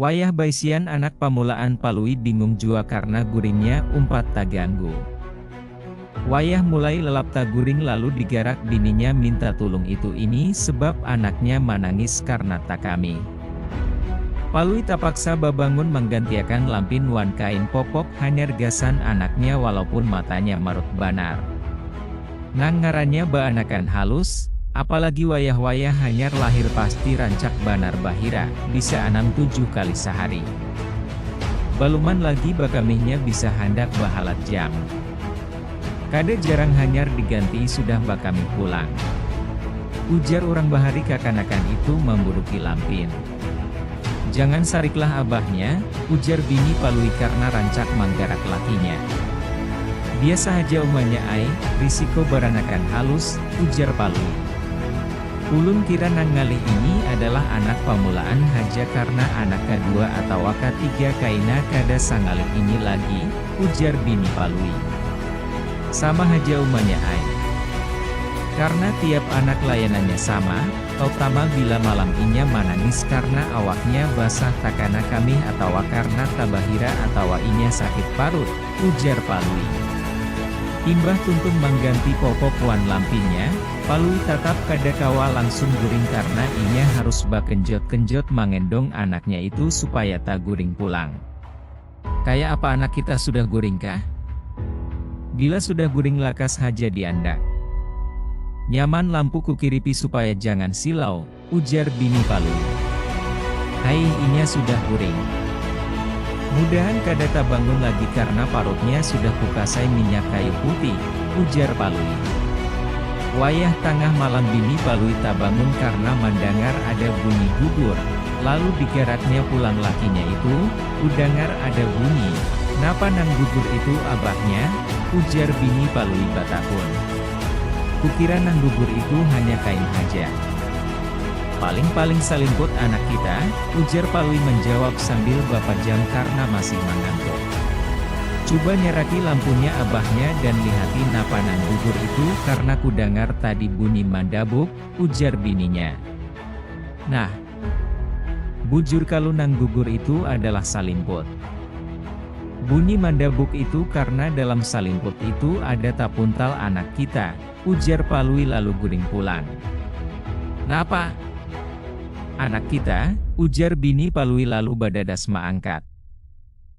Wayah baisian anak pamulaan Palui bingung jua karna guringnya umpat taganggu. Wayah mulai lelap taguring lalu digarak bininya minta tulung itu ini sebab anaknya manangis karna takami. Palui tapaksa babangun manggantiakan lampin wan kain popok hanyar gasan anaknya walaupun matanya marut banar. Nang ngarannya baanakan halus, apalagi wayah-wayah hanyar lahir pasti rancak banar bahira, bisa anam tujuh kali sahari. Baluman lagi bakamihnya bisa handak bahalat jam. Kada jarang hanyar digantii sudah bakamih pulang. Ujar urang bahari kakanakan itu mamburuki lampin. Jangan sariklah abahnya, ujar bini Palui karna rancak manggarak lakinya. Biasa haja umanya ai, risiko baranakan halus, ujar Palui. Ulun kira nang ngalih ini adalah anak pamulaan haja karna anak kadua atawa katiga kaina kada sangalih ini lagi, ujar bini Palui. Sama haja umanya ai. Karna tiap anak layanannya sama, tautama bila malam inya manangis karna awaknya basah takana kamih atawa karna tabahira atawa inya sakit parut, ujar Palui. Imbah Tuntung mangganti popok wan lampinya, Palui tatap kada kawa langsung guring karna inya harus bakenjot-kenjot mangendong anaknya itu supaya taguring pulang. Kaya apa anak kita sudah guring kah? Bila sudah guring lakas haja diandak. Nyaman lampu kukiripi supaya jangan silau, ujar bini Palui. Haih inya sudah guring. Mudahan kada tabangun lagi karna parutnya sudah kukasai minyak kayu putih, ujar Palui. Wayah tangah malam bini Palui tabangun karna mandangar ada bunyi gugur, lalu digaraknya pulang lakinya itu, kudangar ada bunyi, napa nang gugur itu abahnya? ujar bini Palui batahun. Kukira nang gugur itu hanya kain haja. Paling-paling salimput anak kita, ujar Palui manjawab sambil bapajam karna masih mangantuk. Cuba nyaraki lampunya abahnya dan lihati napa nang gugur itu karna kudangar tadi bunyi mandabuk, ujar bininya. Nah, Bujur kalu nang gugur itu adalah salimput. Bunyi mandabuk itu karna dalam salimput itu ada tapuntal anak kita, ujar Palui lalu guring pulang. Napa? Anak kita? ujar bini Palui lalu badadas maangkat.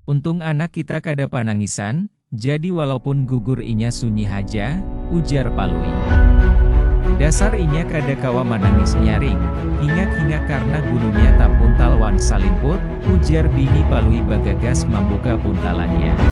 Untung anak kita kada panangisan, Jadi walaupun gugur inya sunyi haja, ujar Palui. Dasar inya kada kawa manangis nyaring, hingak-hingak karna gulunya tapuntal wan salimput, ujar bini Palui bagagas mambuka buntalannya.